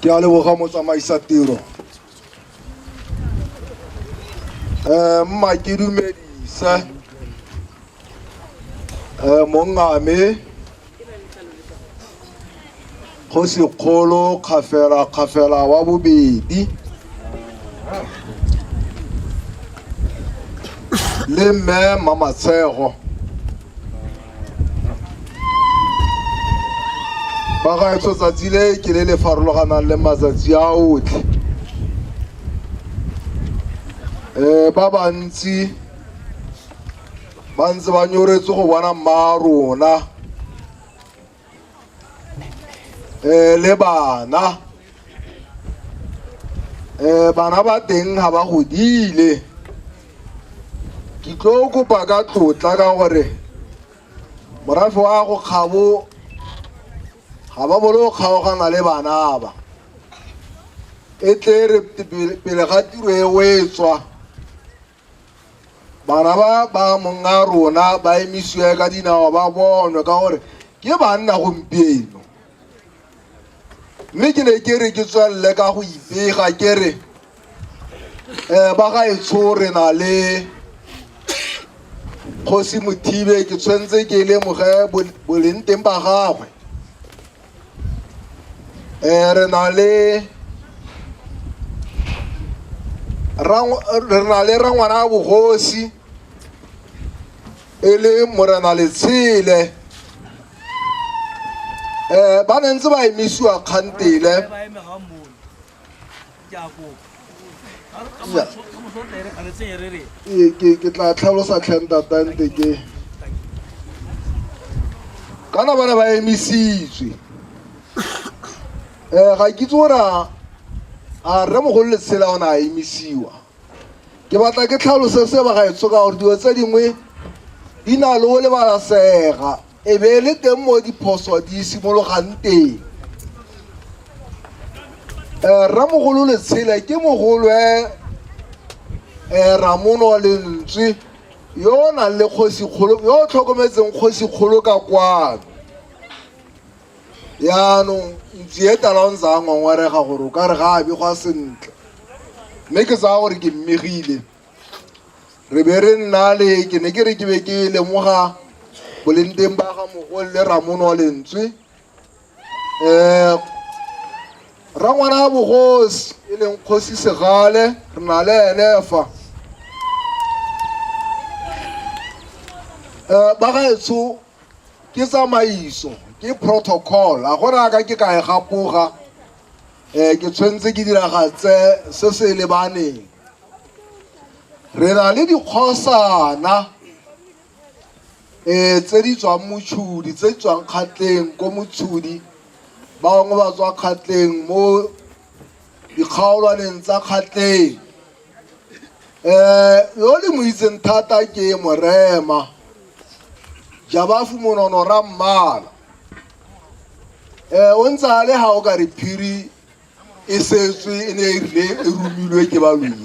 ke a leboga motsamaisa tiro um mma ke dumedise um mongame go sekgolo kgafela kgafela wa bobedi le mme mmamatshego bagaetsho tsatsi le ke le le farologanang le matsatsi a otlhe um ba bantsi ba ntse ba nyoretse go bona mma rona um le bana um bana ba teng ga ba godile ke tlo kopa ka tlotla ka gore morafe wa go kgabo ga ba bolo go kgaogana le bana ba e tle re pele ga tiro e o e tswa bana ba ba monga rona ba emisiwe ka dinao ba bonwe ka gore ke banna gompieno mme ke ne ke re ke tswelele ka go ipega ke re um ba gaetsho re na le kgosi mothibe ke tshwanetse ke lemoge boleng teng ba gagwe um re na le rangwana ya bogosi e le morena letshele um ba ne ntse ba emisiwa kgantele ke tla tlhalosa tlhentatante ke kana ba ne ba emisitswe um ga ke itse gore a rre mogolo letshela o ne a emisiwa ke batla ke tlhalose se ba ga etso ka gore dilo tse dingwe di na le o lebalasega e be e le teng mo diphoso di simologang teng um ramogolo letshele ke mogolwe um ramono lentswe yo o nang le kgosikgolo yo o tlhokometseng kgosikgolo ka kwano yaanong ntsi e tala o ntse a ngwangwarega gore o ka re ga a begwa sentle mme ke tsaya gore ke mmegile re be re nnale ke ne ke re ke be ke lemoga boleng teng ba ga mogole le ramono wa lentswe um rangwana ya bogosi e leng kgosi segale re na le ene fa um ba gaetsho ke tsamaiso ke protocol a go raka ke ka e gapoga um ke tshwanetse ke diragatse se se lebaneng re na le dikgosana um tse di tswang motshudi tse di tswang kgatleng ko motshudi bangwe ba tswa kgatleng mo dikgaolwaneng tsa kgatleng um yo le mo itseng thata ke morema jabafu monono ra mmala um o ntse a le ga o ka re phiri e setswe e ne e rile e romilwe ke balweng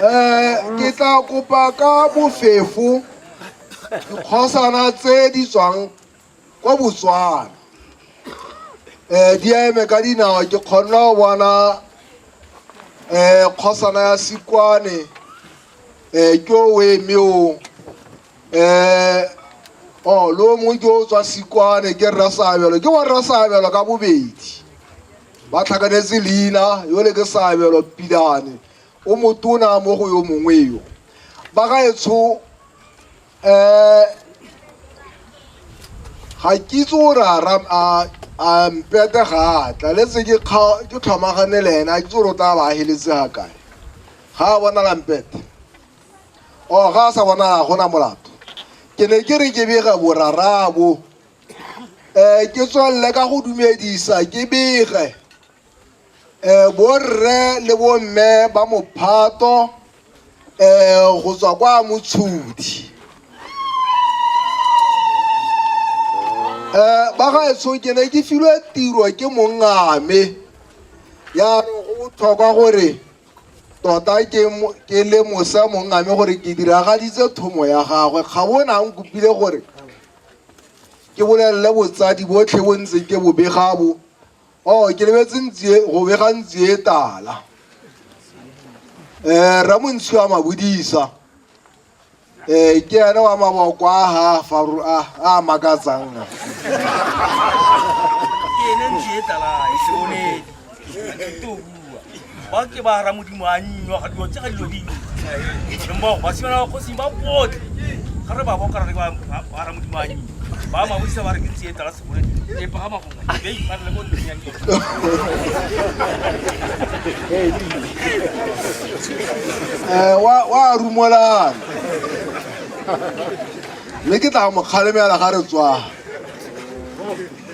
um ke tla kopa ka bofefo dikgosana tse di tswang kwa botswana um di eme ka dinao ke kgonna go bona um kgosana ya sikwane um ke o eme o um o lo mongwe ke o tswa sikwane ke rra saabelo ke wa rra saabelo ka bobedi ba tlhakanetse leina yo le ke saabelo pilane o motona mo go yo mongwe yo ba ga etsho um ga kitse o re a ra- a- a mpete ga a tla letse ke kga- ke tlhomagane le ena a kitse o re o tla ba a heletse ga kae ga a bonala mpete o ga a sa bona ga gona molato ke ne ke re ke bega borarabo um eh, ke tswalele ka go dumedisa ke bege um eh, borre le bomme ba mophato um eh, go tswa kwa motshodi um ba gaetsho ke ne ke filwe tiro ke mongame ya go botlhokwa gore Tota ke le mosa mongame gore ke diragaditse thomo ya gagwe ga bona ang kopile gore ke bolelele botsadi botlhe bo ntse ke bobegabo o oh, ke lebetse ntsie go bega ntsie tala um eh, ramontshiwa mabodisa ee ke ene wa maboko a ga faru a a makatsang ke ene ntse e tlala e se one to bua ba ke ba ra modimo a nnywa ga dilo tse ga dilo dingwe mmogo ba simana ba kgosing ba botlhe ga re ba boka re ba ra modimo a nnywa ba mabodisa ba re ke ntse e tlala se bone e pagama go Eh, wa wa rumolana le ke tla mo kgalemela ga re tswa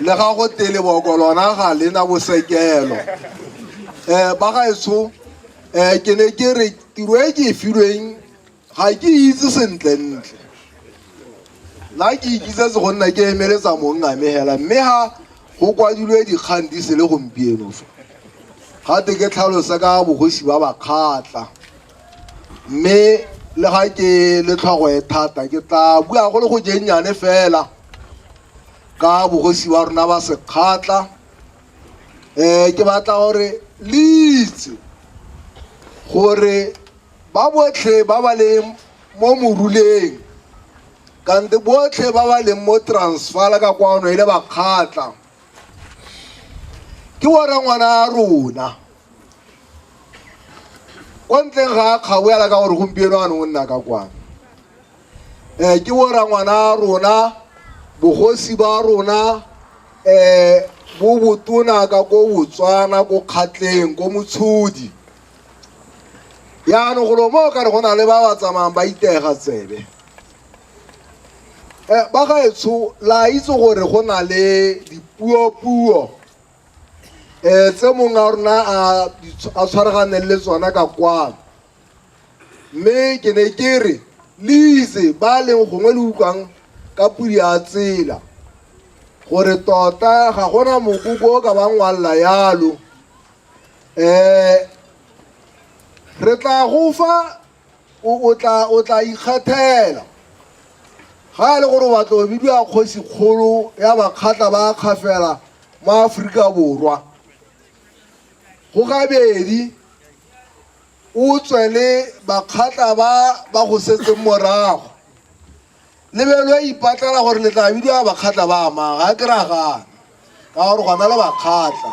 le ga go tele boko lona ga le na bosekelo um ba gaetsho um ke ne ke re tiro e ke e filweng ga ke itse sentlentle nna ke ikitsetse go nna ke emeletsa monngamegela mme ga go kwadilwe dikgang di se le gompieno fa gate ke tlhalosa ka bogosi ba bakgatla mme le ga ke le tlhogo e thata ke tla bua go le go jennyane fela ka bogosi wa rona ba sekgatla um ke batla gore le itse gore Ba botlhe ba ba leng mo moruleng kante botlhe ba ba leng mo transfala ka kwano e le bakgatla ke bona ngwana a rona kwa ntleng ga a kgaboela ka gore gompieno a ne o nna ka kwano um ke bora ngwana a rona bogosi ba rona um bo botona ka ko botswana ko kgatleng ko motshodi yaanong golo mo o kare go na le ba ba tsamayang ba itega tsebe um ba gaetsho la itse gore go na le dipuopuo um tse mongwe a rona a tshwaraganeng le tsona ka kwano mme ke ne ke re le itse ba leng gongwe le utlwang ka pudi ya tsela gore tota ga gona mokoko o ka bangwalela yalo eh re tla go fa o tla o tla ikgethela ga e le gore batla o bidiwa kgosi kgolo ya bakgatla ba kgafela mo Aforika Borwa go gabedi o tswe le bakgatla ba ba go setseng morago lebelo e ipatlela gore le tla bidiwa bakgatla ba amang ga ke ragana ka gore gona le bakgatla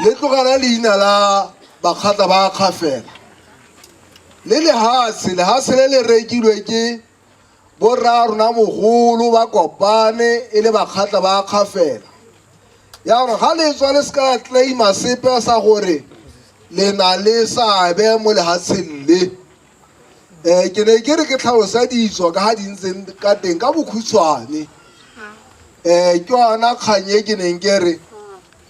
le tlogela leina la bakgatla ba kgafela le lehatshe lehatshe le le rekilwe ke borra rona mogolo ba kopane e le bakgatla ba kgafela yaanong ga le tswa le se ka claima sepe sa gore le na le seabe mo lehatsheng le um ke ne ke re ke tlhalosa ditso ka ga di ntseng ka teng ka bokhutshwane um ke yona kgang e ke neng ke re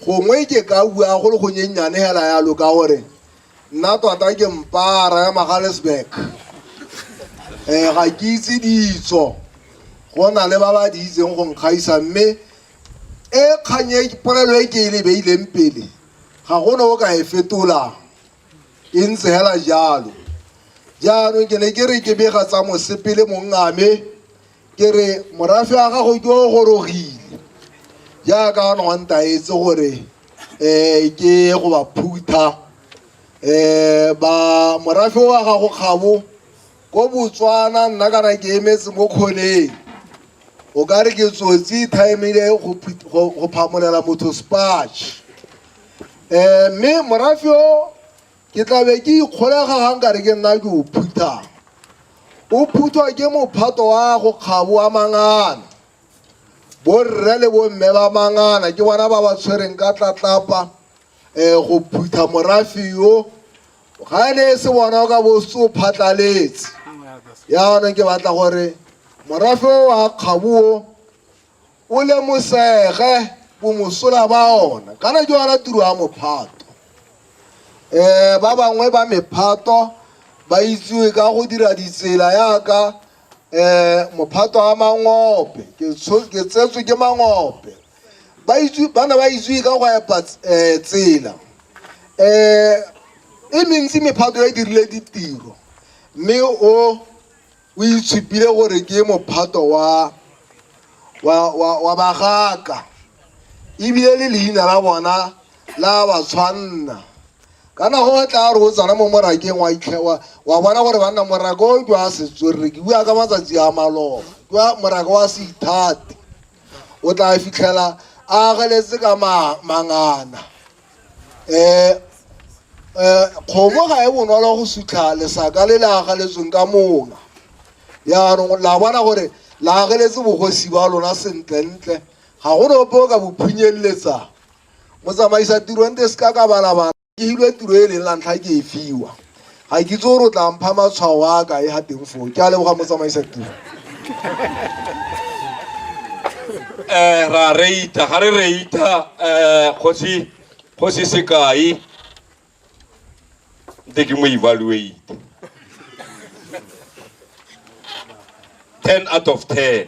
gongwe ke ka bua go le gonyennyane fela yalo ka gore nna tota ke mpara ya magalesburg um ga ke itse ditso go na le ba ba di itseng go nkgaisa mme e kgang e polelo e ke e lebeileng pele ga gone o ka e fetolang e ntse hela jalo jaanong ke ne ke re ke bega tsa mosepele mongame ke re morafe wa gago ke o gorogile jaaka a nontaetse gore um ke go ba phutha um ba morafe wa gago kgabo ko botswana nna kana ke emetse mo kgoneng o ka re ke tsotsi timele go phamolela motho spatch um mme morafe o ke tlabe ke ikgolega ga nka re ke nna ke o phuthang o phuthwa ke mophato wa go kgabo wa mangana borre le bomme ba mangana ke bona ba ba tshwereng ka tlatlapa um go phutha morafe yo ga e ne e se bona o ka bo se o phatlaletse yaanong ke batla gore morafe o wa kgabo o O lemosege bomosola ba ona. Kana ke yona tiro ya mophato. Um ba bangwe ba mephato ba itsewe ka go dira ditsela yaka um mophato wa mangope ke tsho- ke tsetswe ke mangope ba itse ba ne ba itsewe ka go epa ts- eh, tsela um e mentsi mephato e dirile ditiro mme o O itshupile gore ke mophato wa, wa, wa, wa bagaka ebile le leina la bona la ba tshwanna kana go tla re o tsana mo morakeng wa itlhe wa wa bona gore banna moraka o ke wa setswerere ke bua ka matsatsi a maloba ke wa moraka wa seithate o tla fitlhela a ageletse ka ma, mangana um um kgomo ga e bonolo go sutlha lesaka le le agaletsweng ka mola yaanong la bona gore le ageletse bogosi ba lona sentlentle ga go nope o ka bophunyeleletsa motsamaisa tirong te se ka ka balabala ke hilwe tiro e leng la ntlha ke e fiwa ga ke itse gore o tla mpha matshwao a ka e ga teng foo ke a leboga motsamaisa tiro eh ra reita ga re reita eh kgosi kgosi sekai nte ke mo evaluate 10 out of 10